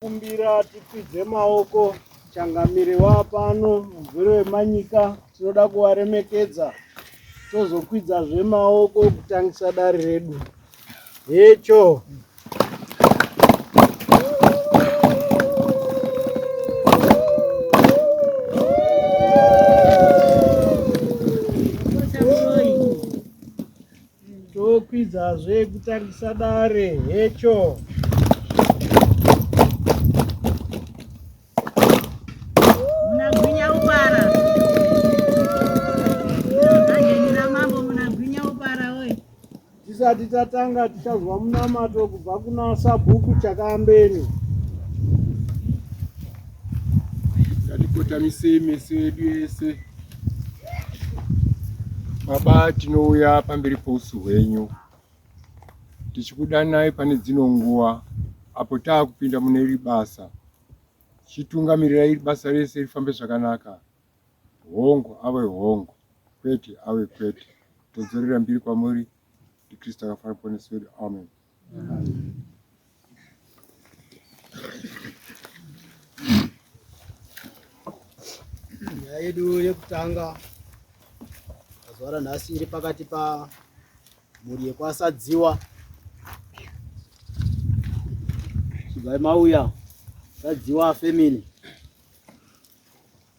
Kumbira tikwidze maoko changamire wapano mugwere wemanyika tinoda kuvaremekedza tozokwidza zvemaoko kutangisa dare redu hecho Tokwidzazve kutangisa dare hecho. tisati tatanga tichanzwa munamato kubva kuna sabhuku chakambeni ngatikotamisi mese yedu yese Baba, tinouya pamberi pousu hwenyu tichikudanai pane dzino nguva apo taakupinda mune iri basa. Chitungamirira iri basa rese rifambe zvakanaka, hongu ave hongu, kwete ave kwete. Todzorera mbiri kwamuri, ndiKristu akafana muponesi wedu. Amen. nyaya yedu yekutanga mazuva ranhasi iri pakati pamhuri yekwasadziwa chibvai mauya sadziwa family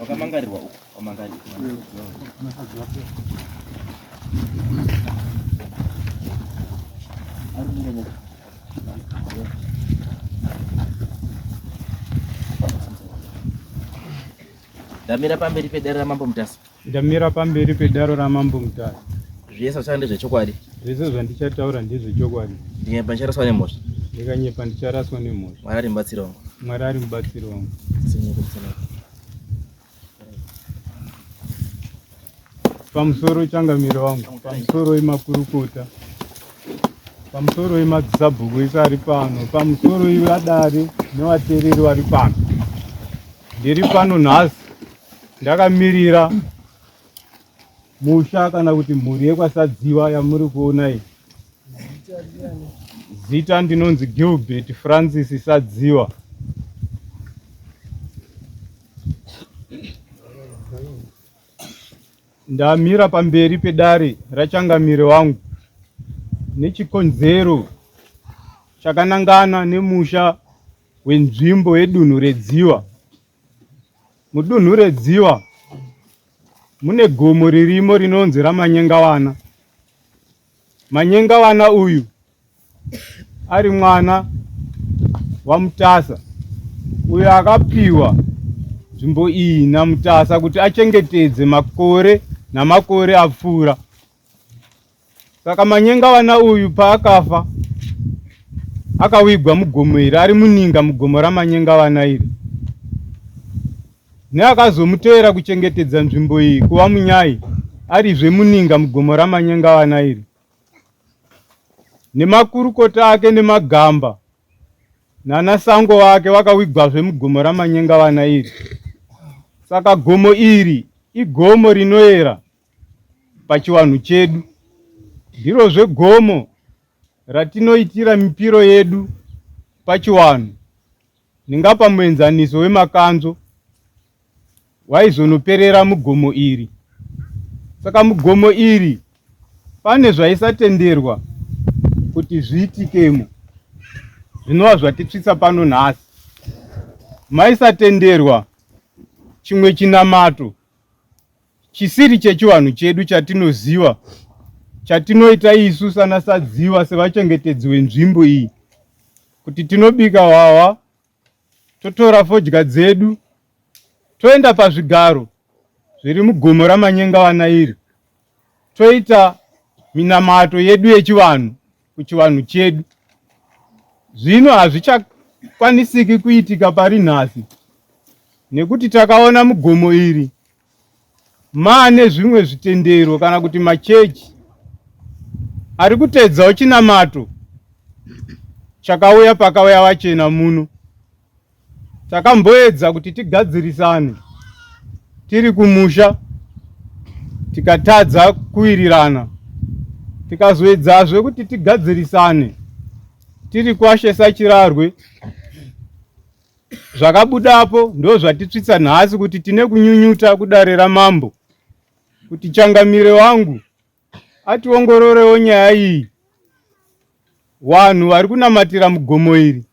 wakamangarirwa uko wamangarirwa ndamira pamberi pedare ramambo mutasa Ndamira pamberi pedaro ramambo mutare. Zvese zvachanga ndezvechokwadi. Zvese zvandichataura ndezvechokwadi. Ndikanyepa ndicharaswa nemhosva. Ndikanyepa ndicharaswa nemhosva. Mwari ari mubatsiri wangu. Mwari ari mubatsiri wangu. Pamusoro wechangamiro wangu, pamusoro wemakurukota, pamusoro wemadzisabhuku ese ari pano, pamusoro iwadare newatereri wari pano. Ndiri pano nhasi Ndakamirira musha kana kuti mhuri yekwasadziwa yamuri kuona iyi zita ndinonzi gilbert francis sadziwa ndamira pamberi pedare rachangamire wangu nechikonzero chakanangana nemusha wenzvimbo yedunhu redziwa Mudunhu reDziwa mune gomo ririmo rinonzi raManyengawana. Manyengawana uyu ari mwana waMutasa uyo akapiwa nzvimbo iyi naMutasa kuti achengetedze makore namakore apfuura. saka manyenga vana uyu paakafa akawigwa mugomo iri ari muninga mugomo ramanyenga vana iri neakazomutevera kuchengetedza nzvimbo iyi kuva munyai arizve muninga mugomo ramanyenga vana iri nemakurukota ake nemagamba nana sango vake vakawigwazve mugomo ramanyenga vana iri saka gomo iri igomo rinoera pachivanhu chedu. Ndirozve gomo ratinoitira mipiro yedu pachiwanhu ndingapa muenzaniso wemakanzo waizonoperera mugomo iri saka mugomo iri pane zvaisatenderwa kuti zviitikemo zvinova zvatitsvitsa pano nhasi maisatenderwa chimwe chinamato chisiri chechivanhu chedu chatinoziva chatinoita isu sana sadziwa sevachengetedzi wenzvimbo iyi kuti tinobika hwahwa totora fodya dzedu toenda pazvigaro zviri mugomo ramanyengavana iri toita minamato yedu yechivanhu kuchivanhu chedu zvino hazvichakwanisiki kuitika pari nhasi nekuti takaona mugomo iri maane zvimwe zvitendero kana kuti machechi ari kuteedzawo chinamato chakauya pakauya vachena muno Takamboedza kuti tigadzirisane tiri kumusha tikatadza kuwirirana tikazoedzazve kuti tigadzirisane tiri kwashe sachirarwe zvakabudapo ndo zvatitsvitsa nhasi kuti tine kunyunyuta kudare ramambo kuti changamire wangu ationgororewo nyaya iyi vanhu vari kunamatira mugomo iri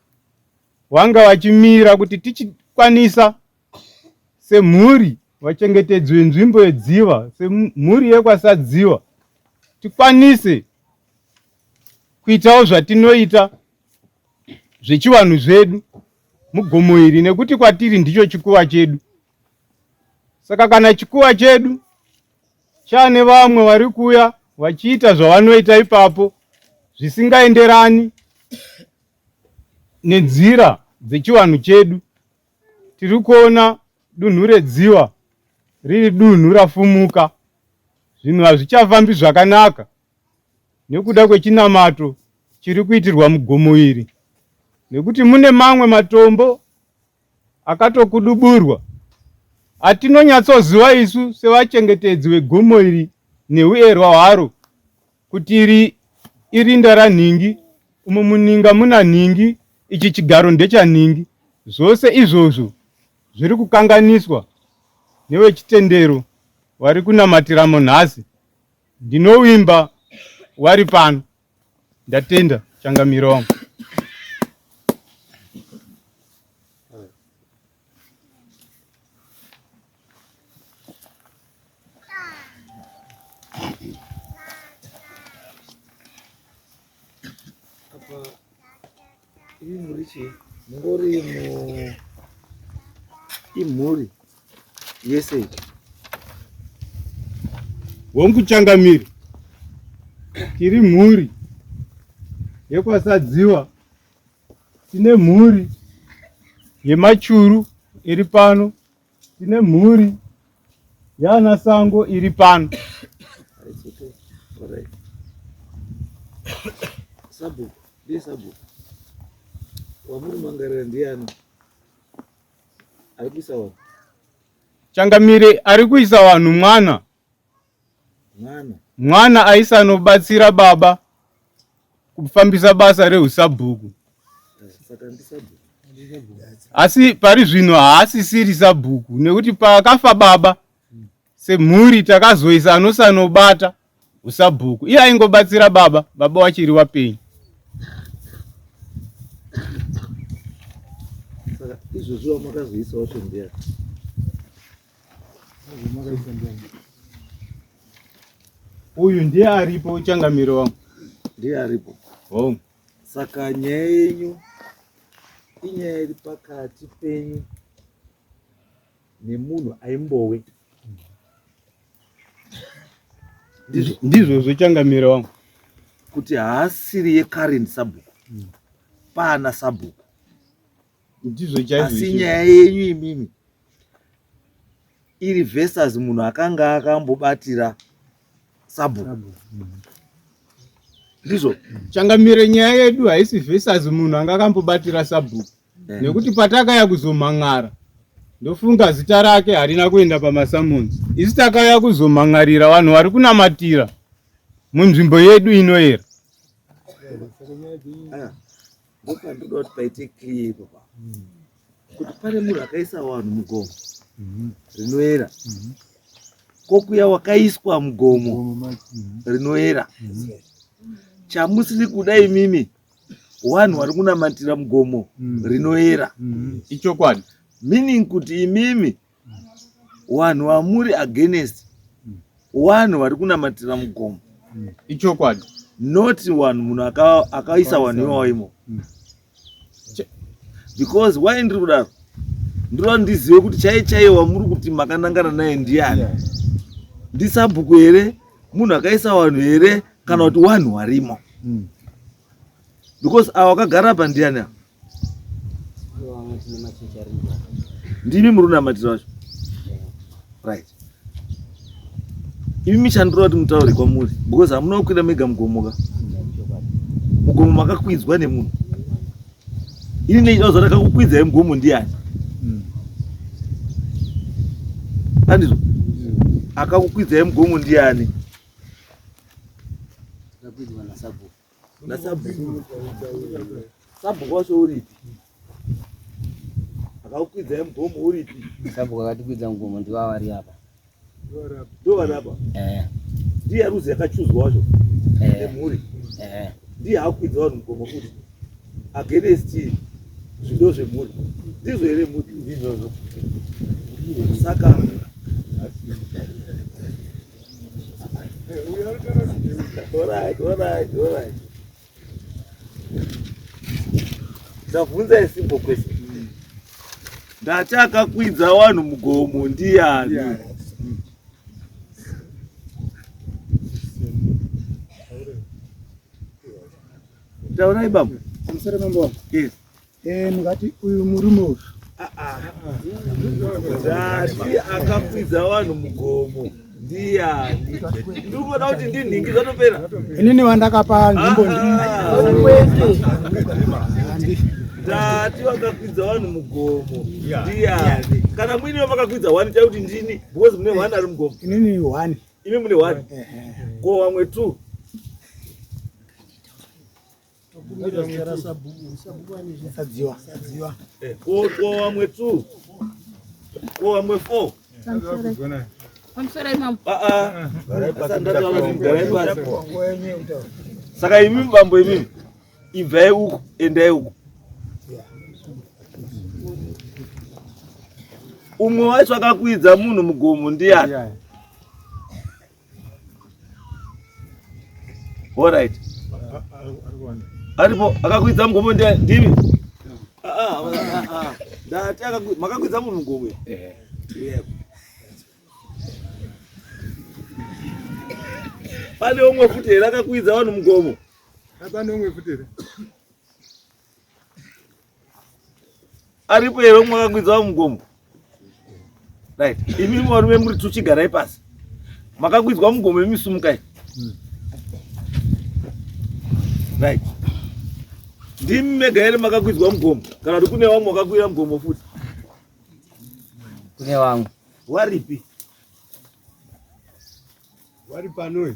Vanga vachimira kuti tichikwanisa semhuri vachengetedzi venzvimbo yedziva semhuri yekwasadziva tikwanise kuitawo zvatinoita zvechivanhu zvedu mugomo iri nekuti kwatiri ndicho chikuva chedu saka kana chikuva chedu chane vamwe vari kuuya vachiita zvavanoita ipapo zvisingaenderani Nenzira dzechivanhu chedu tiri kuona dunhu redziva riri dunhu rafumuka. Zvinhu hazvichafambi zvakanaka nekuda kwechinamato chiri kuitirwa mugomo iri nekuti mune mamwe matombo akatokuduburwa atinonyatsoziva isu sevachengetedzi vegomo iri neuerwa hwaro. Kuti iri irinda ranhingi, umo muninga muna nhingi, ichi chigaro ndechanhingi. Zvose izvozvo zviri kukanganiswa nevechitendero vari kunamatiramo nhasi. Ndinovimba wari pano. Ndatenda changamire wangu. iyi mhuri chii mungori imhuri yese hongu changamiri tiri mhuri yekwasadziwa tine mhuri yemachuru iri pano tine mhuri yana sango iri pano sabhuku ndiye sabhuku wamuri mangarira ndiyani ari kuisa vanhu changamire ari kuisa vanhu mwana Mwana aisanobatsira baba kufambisa basa rehusabhuku. Asi pari zvino haasisiri sabhuku nekuti paakafa baba semhuri takazoisa anosanobata usabhuku. Iye aingobatsira baba, baba wachiri wapenyu. Izvozvo makazoisawo shongera. Uyu ndiye aripo changamiro wangu. Ndiye aripo. Home. Saka nyaya yenyu inyaya iri pakati penyu nemunhu aimbowe ndizvozvo changamira wangu kuti haasiri yekarini sabhuku mm. paana sabhuku ndizvo chaizvo asi izvi. nyaya yenyu imimi iri versus munhu akanga akambobatira sabhuku Sabu. Mm. ndizvo changamire nyaya yedu haisi versus munhu anga akambobatira sabhuku Eh. nekuti patakaya kuzomhan'ara ndofunga zita rake harina kuenda pamasamonzi isi takauya kuzomhan'arira vanhu vari kunamatira munzvimbo yedu inoera Aya. Apa ndoda kuti paite clear ipapo kuti pane munhu akaisa vanhu mugomo mhm. rinoera mhm. kokuya wakaiswa mugomo mhm. rinoera chamusiri kuda imimi wanhu wari kunamatira mugomo rinoera ichokwadi meaning kuti imimi wanhu wamuri against wanhu vari kunamatira mugomo mm. ichokwadi not wanhu munhu akaisa wanhu iwawo imo mm. because why ndiri kudaro ndiro ndizive kuti chaiye chaiye wamuri kuti makanangana naye ndiyani ndisabhuku here munhu akaisa wanhu here kana kuti wanhu warimo mm. because awa akagara pandiyani ndimi muri unamatira wacho right imi michandira kuti mutaure kwamuri because hamuna kukwira mega mugomoka mugomo makakwidzwa nemunhu ini nechida kuzoda kakukwidzai mugomo ndiani andizvo akakukwidzai mugomo ndiani nasabhuku sabhuku wacho uripi akakukwidza yemugomo uripi sabhuku akatikwidza mugomo ndivo avari apa ndo vari apa eh. ndiye ruzi yakachuzwa wacho eh. nemhuri eh. ndiye akukwidza vanhu mugomo futi against zvido zvemhuri ndizvo here mhuri ndizvozvo saka Ndabvunza a simple question. Ndati akakwidza wanhu mugomo ndiyani? Yeah. Taurai baba. Amsare mambo. Yes. Eh, mukati uyu murume uyu zasi akakwidza vanhu mugomo ndiyani ndikuona kuti ndinhingi zvatopera inini vandakapa nzvimbo ndati ah. vakakwidza vanhu mugomo ndiyani kana muine vamakakwidza one tai kuti ndini because mune one ari mugomo inini one imi mune one ko vamwe two wamwe two wamwe four saka imi mambo imi ibvai uku endai uku umwe wacho akakwidza munhu mugomo ndiyani Alright. Aripo akakwidza mugombo ndiye ndivi. Ah ah ah. ah. Ndati akakwidza makakwidza munhu mugombo. Eh. Yebo. Pane umwe futi here akakwidza vanhu mugomo? Pane umwe futi here? aripo here mwakakwidza vamugomo right imi varume muri tuchigarai pasi makakwidzwa mugomo imi sumukai right ndimi mega here makakwidzwa mugomo kana kuti kune vamwe vakakwira mugomo futi kune vamwe waripi wari panoe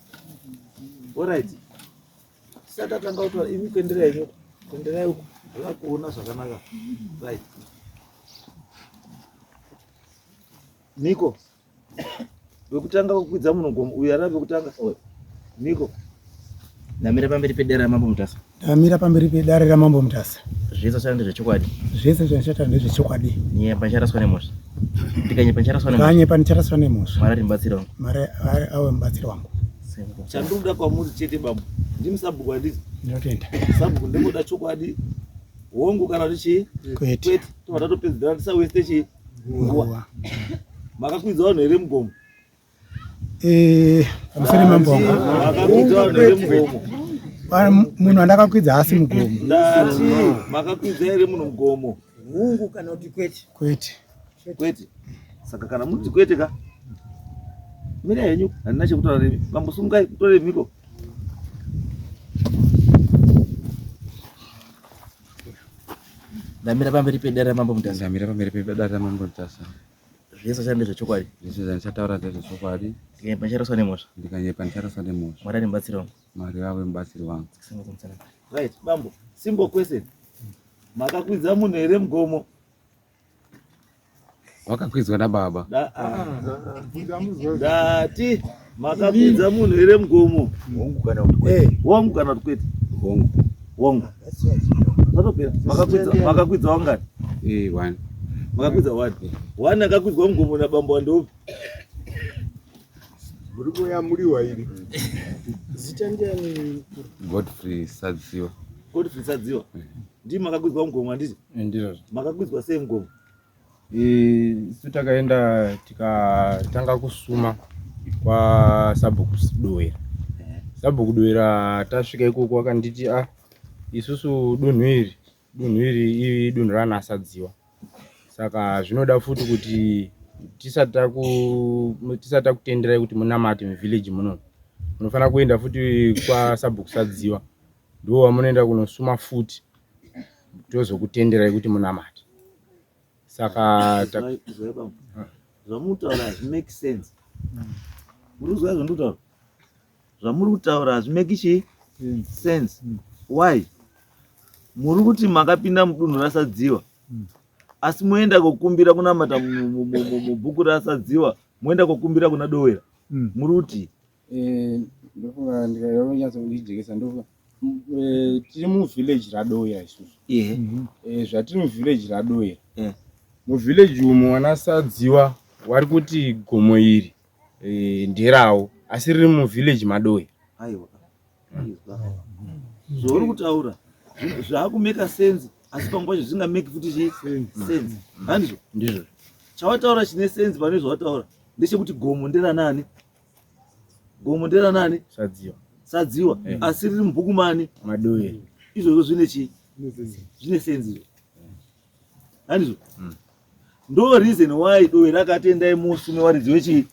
Alright. Saka tanga utora imi kuenderai imi kuenderai uko. Hala kuona zvakanaka. Right. Niko. Wekutanga kukwidza munhu gomo uyu arave kutanga. Niko. Namira pamberi pedera mambo mutasa. Ndamira pamberi pedare ramambo Mutasa. Zvese zvichataura ndezvechokwadi. Zvese zvichataura ndezvechokwadi. Nyepa ndicharaswa nemhosva. Ndikanyepa ndicharaswa nemhosva. Ndikanyepa ndicharaswa nemhosva. Mwari ari mubatsiri wangu. Mwari awe mubatsiri wangu. Chandoda kwamuri chete babu. Ndimi sabhuku handiti? Ndinotenda. Sabhuku ndingoda chokwadi. Hongu kana kuti chii? Kwete. Kwete. Tobva tatopedzera tisaweste chii? Nguwa. Makakwidza vanhu here mugomo? Eh, musere mambo wangu munhu andakakwidza haasi mugomo ndati makakwidza here munhu mugomo hungu kana kuti kwete kwete kwete saka kana muti kwete ka mira henyu handina chekutaura nemi vambosungai kutore mhiko ndamira pamberi pedare mambo mutasa ndamira pamberi pedare mambo mutasa zvese zvichava ndezvechokwadi zvese zvandichataura ndezvechokwadi ndikanyepa ndicharaswa nemhosva ndikanyepa ndicharaswa nemhosva mwari ane mubatsiri wangu mwari vave mubatsiri wangu right bambo simple question makakwidza munhu here mugomo wakakwidzwa nababa ndati Makakwidza munhu here mugomo? Hongu kana kuti kwete. Eh, hongu kana kuti kwete. Hongu. Hongu. Zvatopera. Makakwidza makakwidza wangani? Eh, one. Makakwidza one. One akakwidzwa mugomo na bambo ndopi? Muri kuya muri wairi. Zita ndiani? Godfrey Sadziwa. Godfrey Sadziwa. Eh. Ndii makakwidza mugomo handiti? Eh, Ndizvo. Makakwidza sei mugomo? isu takaenda tikatanga kusuma kwasabhuku doera sabhuku doera tasvika ikoko wakanditi a ah, isusu dunhu iri dunhu iri idunhu ranasadziwa saka zvinoda futi kuti tisati takutenderai kuti munamate muvhillage muno munofanira kuenda futi kwasabhuku sadziwa ndowamunoenda kunosuma futi tozokutenderai kuti munamate saka zvamunotaura hazvimake sense murikuzwa zvandikutaura zvamuri kutaura hazvimake chii sense why muri kuti makapinda mudunhu rasadziwa asi moenda kokumbira kunamata mubhuku rasadziwa moenda kokumbira kuna dowera muri kuti Eh, ndofunga ndikanyatso kujekesa ndofunga eh, tiri muvillage radoya isusu yeah. mm -hmm. eh, zvatiri muvillage radoya yeah. muvillage umo wanasadziwa wari kuti gomo iri eh, nderawo asi riri muvillage madoya aiwa zvauri kutaura zvaakumeka sense asi pamwe pacho zvingameki futi chii sense handizvo ndizvo chawataura chine sense pane zvawataura ndechekuti gomo nderanani gomo ndera nani sadziwa sadziwa eh. asi riri mubhuku mani madoe izvozvo zvine chii zvine senzi izvo handizvo mm. ndo reason why doe rakatendai musi mewaridzi wechii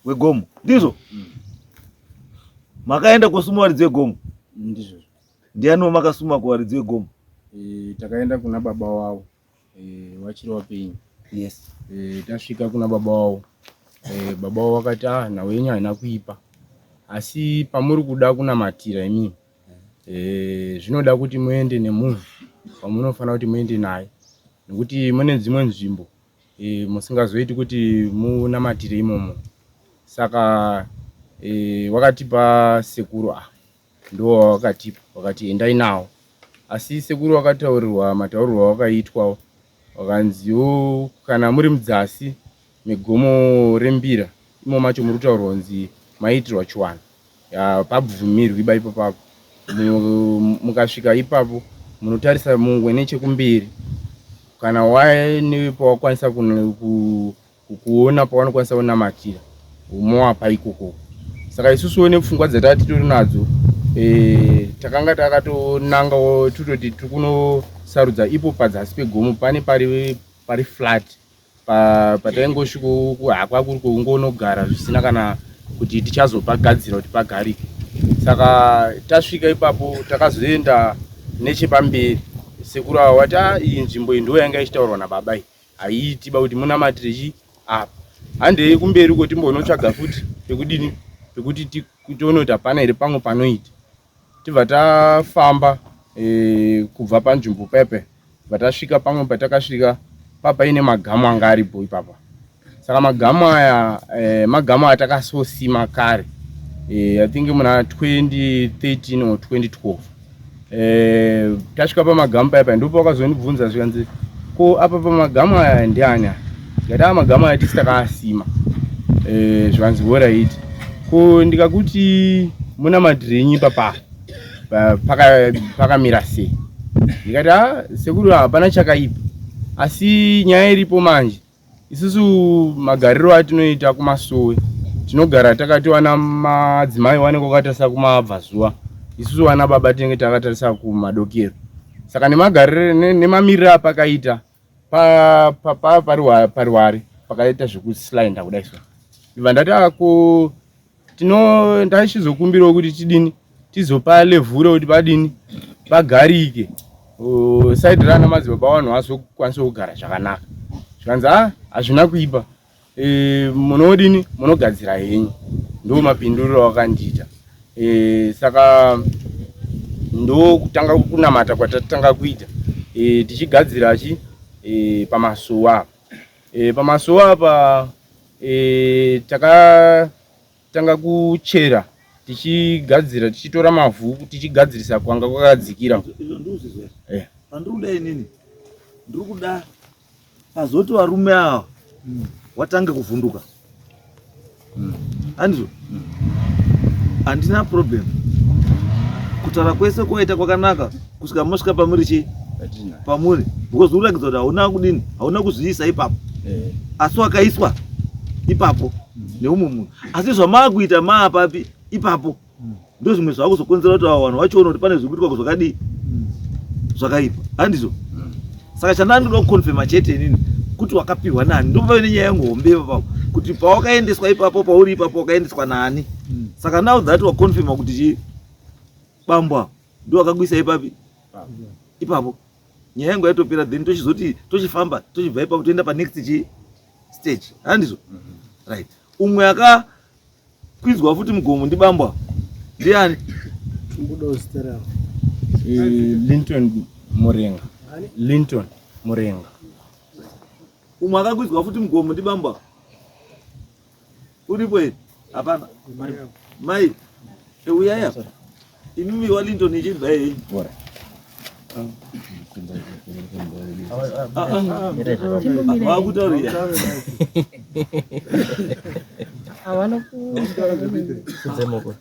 wegomo ndizvo mm. makaenda kosuma waridzi wegomo ndizvo ndiani wamakasuma kuwaridzi wegomo eh, takaenda kuna baba wavo eh, vachiri vapenyu yes eh, tasvika kuna baba wavo eh, baba wavo vakati ah nhau yenyu haina kuipa asi pamuri kuda kunamatira imimi eh, zvinoda kuti muende nemunhu pamunofanira kuti muende naye nekuti mune dzimwe nzvimbo eh, musingazoiti kuti munamatire imomo saka eh, wakatipa sekuru ah ndiwo wavakatipa vakati endai nawo asi sekuru vakataurirwa mataurirwo avakaitwawo vakanziwo kana muri mudzasi megomo rembira imo macho muri kutaurwa kunzi maiitirwa chiwanhu pabvumirwi ba ipo papo mukasvika ipapo munotarisa mungwe nechekumberi kana waine pawakwanisa ku kuona pawanokwanisa kunamatira umoapa ikoko saka isusuwo nepfungwa dzataa titori nadzo e, takanga takatonangawo tototi tiri kunosarudza ipo padzasi pegomo pane pari pari flat pataingosviko pa hakwa kuri kungonogara zvisina kana kuti tichazopagadzira kuti pagarike saka tasvika ipapo takazoenda nechepamberi sekuru avo vati ah, iyi nzvimbo iyi ndo yanga ichitaurwa nababa iyi Haiiti ba kuti munamatire chii apa. Handei kumberi uko timbonotsvaga futi pekudini pekuti tione kuti hapana here pamwe panoita. Tibva tafamba e, kubva panzvimbo pepe tibva tasvika pamwe patakasvika papaine magamu anga aripo ipapa. Saka magamu aya e, magamu atakasosima kare e, I think muna 2013 or 2012 eh, tasvika pamagamu paya paya ndipo vakazondibvunza zvikanzi ko apa pamagamu aya ndiani aya ndikati aa magamu aya tisi takaasima eh, zvikanzi horaiti ko ndikakuti muna madhirinyi papa pakamira paka sei ndikati a sekuru hapana chakaipa asi nyaya iripo manje Isusu magariro atinoita kumasowe tinogara takati wana madzimai wanenge wakatarisa kumabvazuva isusu wana baba tinenge takatarisa kumadokero saka nemagariro nemamiriro apakaita pariwari pakaita zvekuslainda kudai so ibva ndati ako tino ndaichizokumbirawo kuti tidini tizopa levhura kuti padini pagarike saidi rana madzibaba vanhu vazokwanisa kugara zvakanaka zvikanzi a hazvina kuipa e, munodini munogadzira henyu ndo mapinduriro awakandiita e, saka ndo kutanga kunamata kwatatanga kuita e, tichigadzira chi e, pamasuwa E, pamasowe apa e, takatanga kuchera tichigadzira tichitora mavhu tichigadzirisa kwanga kwakadzikira eh. pandiri kuda inini ndiri kuda pazoti varume ava hmm. watange kuvhunduka mm. andizvo mm. handina problem kutaura kwese kwaita kwakanaka kusvika mosvika pamuri chii pamuri because uratidza kuti hauna kudini hauna kuzviisa ipapo eh. asi wakaiswa ipapo mm. neumwe munhu asi zvamaakuita maapapi ipapo ndozvimwe zvakuzokonzera kuti avo vanhu vachiona kuti pane zvikuitwa zvakadii zvakaipa handizvo saka chandandinoda kukonfema chete inini kuti wakapihwa nani ndopave nenyaya yangu hombe ipapapo kuti pawakaendeswa ipapo pauri ipapo wakaendeswa nani saka now that wakonfema kuti chii bambwa ndowakakuisa ipapi ipapo nyaya yangu yaitopera then tochizoti tochifamba tochibva ipapo toenda panext chi stage handizvo mhm. right umwe aka Kwinzwa futi mugomo ndibambwa. Ndiani? Tumbudo Stella. Eh, Linton Murenga. Linton Murenga. Umwe akakwizwa futi mugomo ndibambwa. Uripo here? Hapana. Mai. Euyaya. Eh, Imimi wa Linton ichibva henyu. Bora. Vakutaurira. Havana kudzemoko.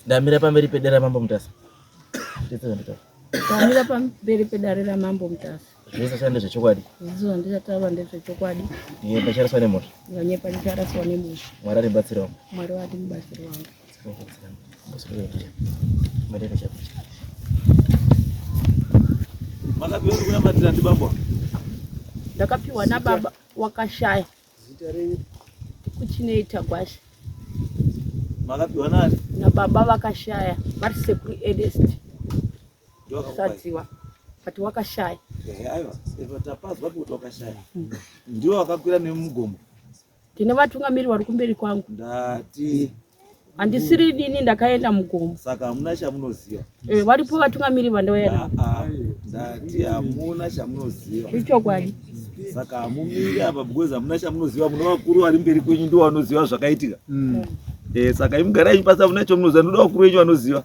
Ndamira pamberi pedera mambo mutasa. Ndamira pamberi pedare ramambo mutasa. zvese zvichava ndezvechokwadi zvese zvandichatava ndezvechokwadi iye pachariswa nemhosva vanye pachariswa nemhosva mwari aribatsirawo mwari wati mubatsiri wangu makapiwa kunamatira ndibaba ndakapiwa nababa wakashaya kuchinei tagwasha makapiwa nani nababa vakashaya vari sekuru edest Ndosatiwa but wakashaya aiwa saka tapazwa kuti wakashaya mm. ndiwo wakakwira nemugomo ndine vatungamiri vari kumberi kwangu ndati handisiri dini ndakaenda mugomo saka hamuna chamunoziva eh, varipo vatungamiri vandauya navo ah, ah. ndati hamuna chamunoziva ichokwadi saka hamumiri apa because hamuna chamunoziva mune vakuru vari mberi kwenyu ndiwo vanoziva zvakaitika mm. eh, saka imugarai pasi hamuna chamunoziva ndoda vakuru venyu vanoziva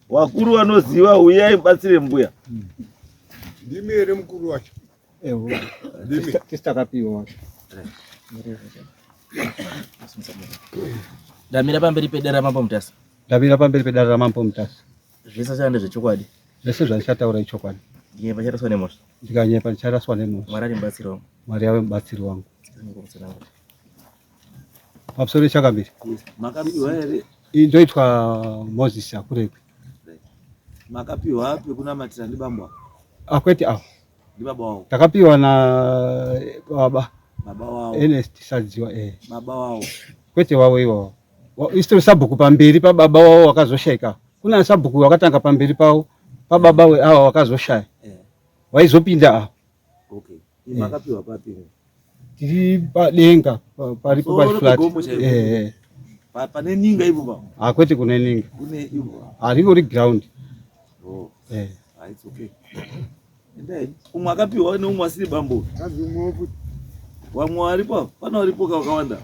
Wakuru wanoziva huyai batsire mbuya. Ndimi here mukuru wacho? Ewo. Ndimi. Tisitakapiwa wacho. Ndamira pamberi pedare ramambo Mutasa. Ndamira pamberi pedare ramambo Mutasa. Zvese zvanda zvechokwadi. Zvese zvandichataura ichokwadi. Ndiye pacharaswa nemosha. Ndikanyepa ndicharaswa nemosha. Mwari ari mubatsiri wangu. Mwari ave mubatsiri wangu. pamusoro pechakambiri makapiwa here ndoitwa moses akurekwe makapiwa api kunamatira ndi bambo akwete ah, awo ndi baba wavo takapiwa na baba baba wavo ernest sadziwa eh. baba wavo kwete wavo iwawo Wa- isitori sabhuku pamberi pababa wavo wakazoshaika kuna sabhuku wakatanga pamberi pavo pababa we awa wakazoshaya eh. waizopinda awo Okay. Iyi makapiwa papi? Tiri padenga paripo pa flat. Eh. Pa pane ninga ipo ba. Ah kwete kune ninga. Kune ipo. Ah riko ri ground. Oh. Eh. Ah it's okay. Ndai umwe akapiwa ne umwe asiri bambo. Kazi umwe opo. Wamwe aripo? Pana aripo kawanda.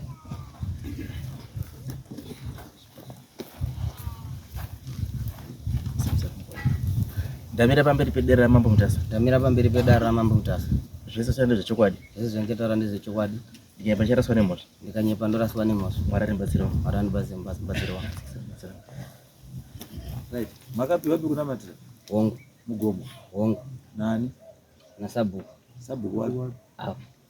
Ndamira pamberi pedare ramambo Mutasa. Ndamira pamberi pedare ramambo Mutasa. Zvese zvanga zvechokwadi. Zvese zvanga taura ndezvechokwadi. Ndikanyepa ndicharaswa nemhosva. Ndikanyepa ndoraswa nemhosva. Mwari andibatsirawo. Mwari andibatsirawo. Right. Makapiwa biku namatira. Hongu. Mugomo. Hongu. Nani? Nasabhuku. Sabhuku wapi? Apo.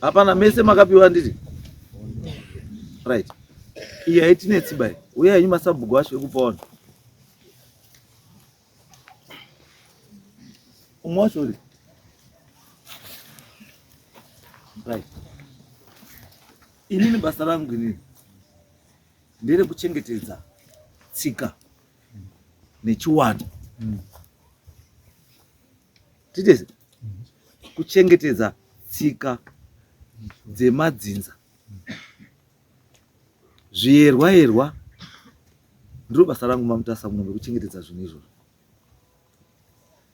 hapana mese makapiwa ndiri right iyi haitinetsi bai uye henyu masabhuku acho ekupa vanhu umwe wacho uri right inini basa rangu inini ndere kuchengetedza tsika nechiwanda mm. Titeze kuchengetedza tsika dzemadzinza zviyerwa yerwa ndiro basa rangu mamutasa muno vekuchengetedza zvinhu izvozvo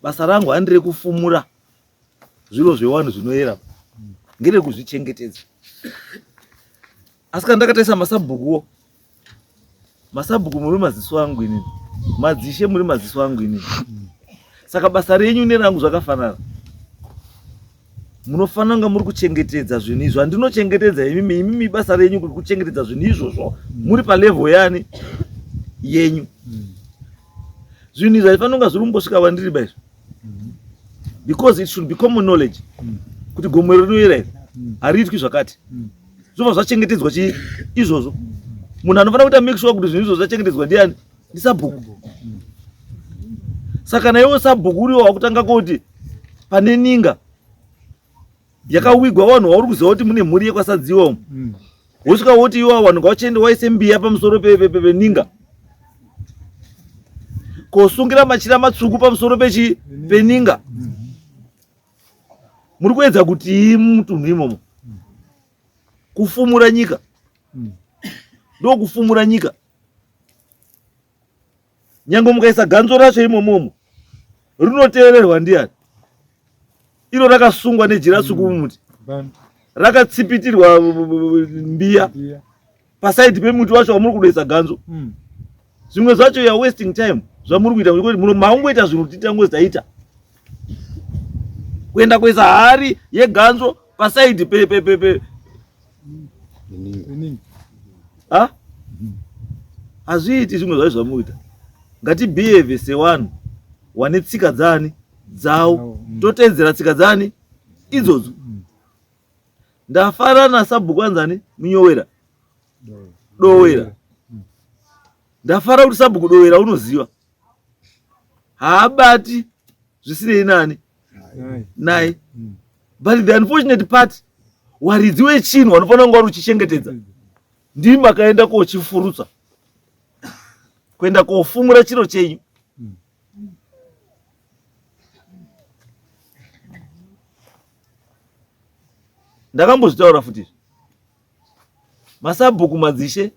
basa rangu handi rekufumura zviro zvewanhu zvinoyera ngerekuzvichengetedza Asi kana ndakatarisa masabhukuwo, masabhuku muri maziso angu inini, madzishe muri maziso angu inini. Saka basa renyu nerangu zvakafanana. Munofanira kunge muri kuchengetedza zvinhu izvo andinochengetedza imimi, imimi basa renyu kuchengetedza zvinhu izvozvo muri palevel yani yenyu. Zvinhu izvi haifanira kunge zviri kumbosvika vandiri baizvo. mm-hmm. because it should be common knowledge mm. kuti gomo rinoyera iri mm. hariitwi zvakati mm. zvobva zvachengetedzwa chii izvozvo munhu anofanira kuita make sure kuti zvinhu izvozvo zvachengetedzwa ndiani ndisabhuku saka naiwo sabhuku uriwo wakutanga kuti pane ninga yakawigwa vanhu vauri kuziva kuti mune mhuri yekwasadziwa umu mm. wosvika woti iwa vanhu ngavachiende waise mbiya pamusoro peninga kosungira machira matsvuku pamusoro pechi peninga mm. muri kuedza kutii mutunhu imomo mm. kufumura nyika ndokufumura nyika nyange mukaisa ganzo racho imomomo rinoteererwa ndiani iro rakasungwa nejira suku mm. mumuti rakatsipitirwa mbiya pasaidi pemuti wacho wamuri kudoisa ganzo mm. zvimwe zvacho ya wasting time zvamuri kuita kuti muno maungoita zvinhu titangozaita kuenda kuisa hari yeganzo pasaidi pe pe pe pe ha hazviiti zvimwe zvacho zvamuita ngatibehave sewanhu wane tsika dzani dzawo mm. toteedzera tsika dzani idzodzo mm. ndafara nasabhuku anzani munyowera dowera mm. ndafara kuti sabhuku dowera unoziva haabati zvisinei nani naye mm. but the unfortunate part waridzi wechinhu wanofanira kunge wari uchichengetedza ndii makaenda kochifurutsa kuenda kofumura chiro chenyu ndakambozvitaura futi izvi masabhuku madzishe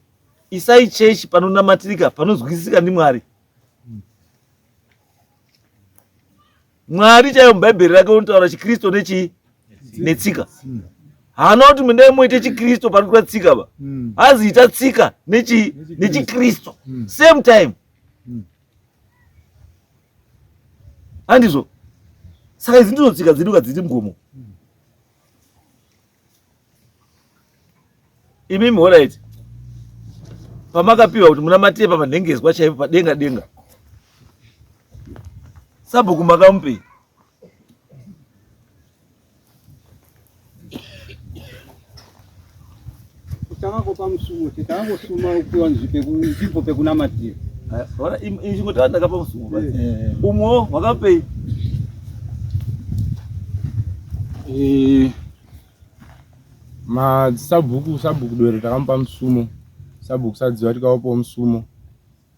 isai chechi panonamatirika panonzwisisika ndimwari mwari chaiyo mubhaibheri rake unotaura chikristu nechii netsika haana kuti mundai moita chikristu panoitwa tsika ba hmm. hanzi ita tsika nechikristu hmm. same time hmm. handizvo saka izi ndizo tsika dzedu kadziti mgomo imi mhora iti pamakapiwa kuti munamatire pamanhengezwa chaipo padenga denga sabhuku makamupei takakopa musumo te takangosuma kupiwa nzvimbo pekunamatira chingo taa ndakapa musumo umwo wakapei madzisabhuku sabhuku doro takamupa musumo sabhuku sadziva tikavapawo musumo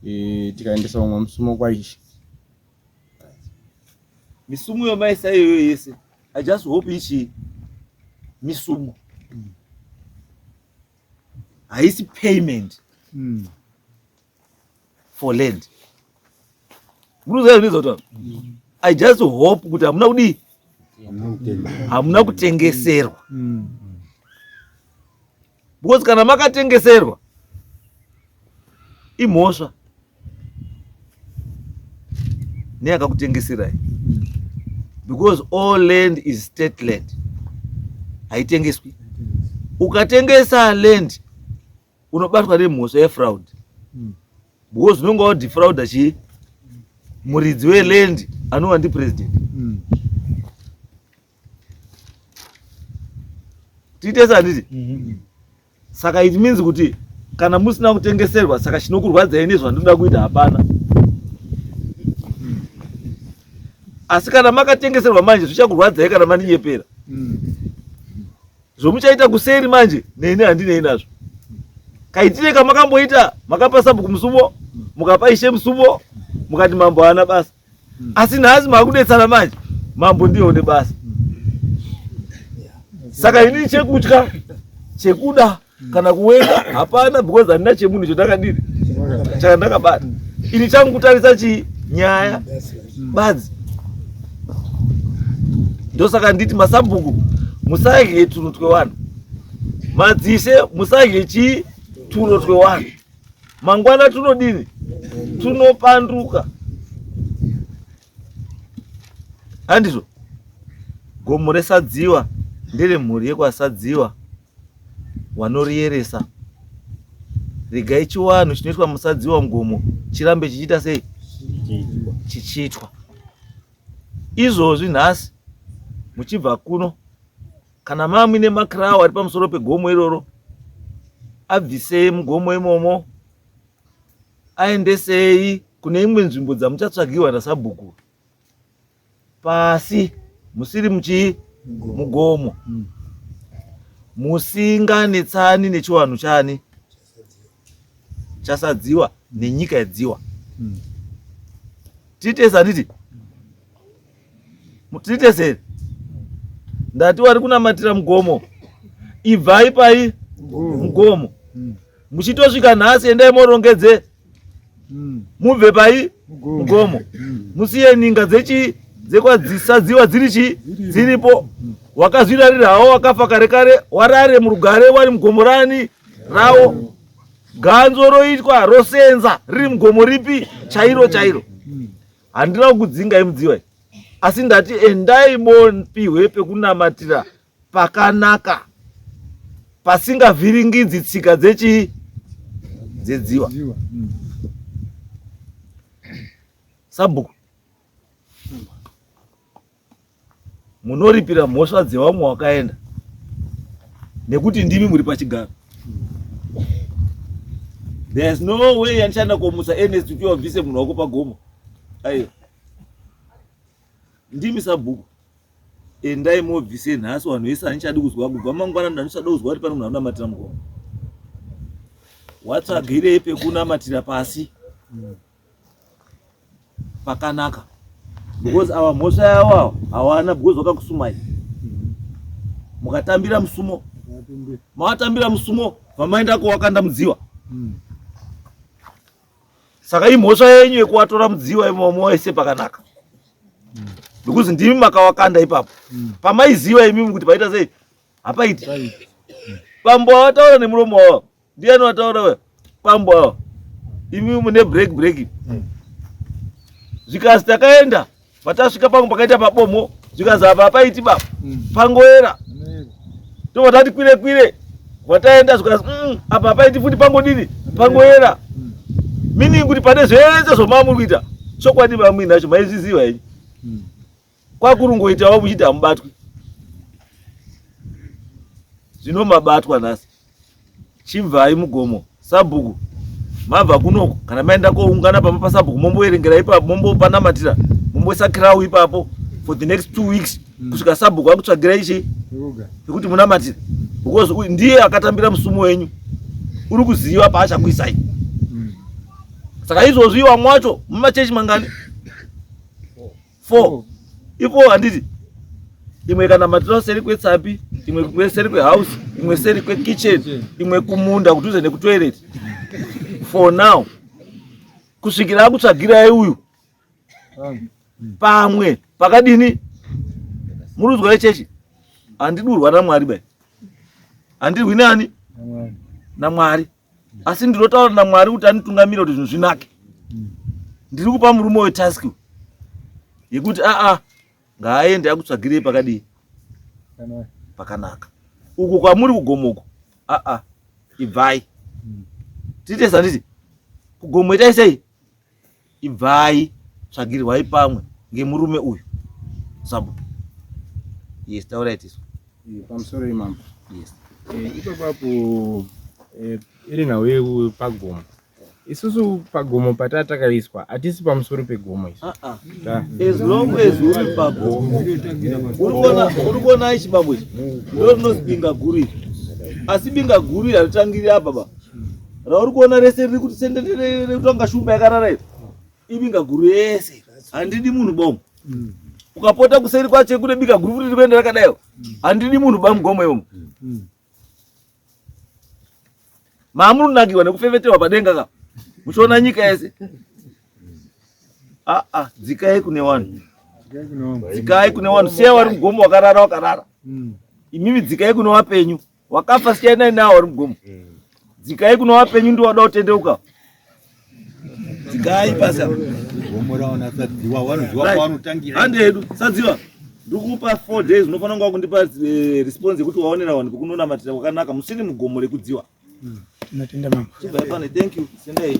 e, tikaendesa vamwe musumo kwaishe misumo yomaisa iyoyo yese i just hope ichi misumo haisi payment mm. for land muruzaizvizota mm. i just hope kuti hamuna kudii hamuna kutengeserwa mm. because kana makatengeserwa imhosva neyakakutengeserai mm. because all land is state land haitengeswi ukatengesa land unobatwa nemhosva yefraud mm. because unonga wadifrauda chii muridzi weland anova ndipresident mm. tiite sanditi mm -hmm. saka it means kuti kana musina kutengeserwa saka chinokurwadzai nezvandinoda kuita hapana asi kana makatengeserwa manje zvichakurwadzai kana maninyepera mm. zvomuchaita kuseri manje neni handinei nazvo kaitire kamakamboita makapa sabhuku musuvo mukapa ishe musuvo mukati mambo haana basa asi nhasi makudetsana manje mambo ndiye une basa saka ini chekutya chekuda kana kuwenga hapana because handina chemunhu chandakadiri chakandakabata ini changu kutarisa chii nyaya mm. badzi ndosaka nditi masabhuku musadye tuno twevanhu madzise musadye chii tuno twewanhu mangwana tunodini tunopanduka handizvo gomo resadziwa ndere mhuri yekwasadziwa wanoriyeresa regai chiwanhu chinoitwa musadziwa mugomo chirambe chichiita sei chichiitwa izvozvi nhasi muchibva kuno kana mamwi nemakirawo ari pamusoro pegomo iroro abvisei mugomo imomo aendesei kune imwe nzvimbo dzamuchatsvagirwa nasabhuku pasi musiri muchii mugomo musinganetsani nechiwanhu chani chasadziwa nenyika yadziwa hmm. titesa titi titeseri ndati wari kunamatira mugomo ibvai pai mugomo hmm. muchitosvika nhasi endai morongedze mm. mubve pai mugomo mm. musiye ninga dzechii dzekwadzisadziwa dziri chii dziripo mm. wakazvirarirawo wakafa kare kare warare murugare wari mugomo rani rawo mm. ganzo roitwa rosenza riri mugomo ripi chairo chairo mm. handina kukudzingai mudziwa asi ndati endai bopihwe pekunamatira pakanaka pasingavhiringidzi tsika dzechii dzedziwa hmm. sabhuku munoripira mhosva dzevamwe wakaenda nekuti ndimi muri pachigaro there's no way yandichanda komusa ernest kuti wabvise munhu wako pagomo aiwa ndimi sabhuku endai mobvise nhasi vanhu vese handichadi kuzwa kubva mangwana ndandichada kuzwa kuti pane munhu anonamatira mukoma watsvagirei pekunamatira pasi pakanaka because ava mhosva yavo ava hawana because vakakusumai mukatambira musumo mawatambira musumo vamaendako wakandamudziwa saka imhosva yenyu yekuwatora mudziyo waimomo waise pakanaka because ndimi makawakanda ipapo mm. pamaiziva imimi kuti paita sei hapaiti pambo awataura nemuromo wawa ndiyani wataura we pambo awa imimi mune break break mm. zvikasi takaenda Patasvika pangu pakaita pabomo zvikanzi apa hapaiti baba mm. pangoera tobva tati kwire kwire wataenda zvikanzi mm, apa hapaiti futi pangodini pangoera mm. meaning kuti pane zvese zvomamuri kuita chokwadi mamwini nacho maizviziva henyu kwakurungoitawo muchiti hamubatwi zvino mabatwa nhasi Chibvai mugomo sabhuku mabva kunoku kana maenda koungana pamba pasabhuku momboverengera ipapo mombopanamatira momboisa kirawu ipapo for the next two weeks mm. kusvika sabhuku akutsvagira ichi yekuti munamatira because ndiye akatambira musumo wenyu uri kuziva paachakuisai mm. saka izvozvi vamwe wacho mumachechi mangani 4 ipo handiti imwe ikanamatirawo seri kwetsapi imwe kwe seri kwehouse imwe seri kwekitchen imwe kumunda kudhuze nekutoilet for now kusvikira akutsvagirai uyu pamwe pakadini murudzwa yechechi handidurwa namwari bai handirwi nani namwari asi ndinotaura namwari kuti anitungamira kuti zvinhu zvinake ndiri kupa murume uyo task yekuti aa ngaaende akutsvagirei pakadii pakanaka uko kwamuri kugomo uko aa ibvai tiite sanditi kugomo itai sei Ibvai tsvagirwai pamwe ngemurume uyu Sabhuku. Yes, taurai tisu. Eh, pamusoro imambo. Yes. Eh, ipapapo eh, iri nhau yekupagomo isusu pagomo pataa takaiswa hatisi pamusoro pegomo isu ah, ah. as long as uri pagomo uri kuona ichi babo ichi ndo rinozibinga guru iri asi binga guru iri haritangiri apa baba rauri kuona rese riri kuti sendereutanga shumba yakarara iri ibinga guru yese handidi munhu bomo mm. ukapota kuseri kwacho kune bika guru futi rikuenda rakadayo mm. handidi munhu bamugomo ivomo mm. maamunonakiwa nekufefetewa padenga ka muchiona nyika yese aa ah, ah, dzikai kune vanhu dzikai kune vanhu seya wari mugomo wakarara wakarara imimi dzikai kune vapenyu wakafa siyanai nawo ari mugomo dzikai kuno vapenyu ndi wada kutendeuka dzikai pasi hande hedu sadziva ndikupa four days unofanira kunge wakundipa eh, response yekuti waonera vanhu vekunonamatira kwakanaka musiri mugomo rekudziwa hmm. thank you sendai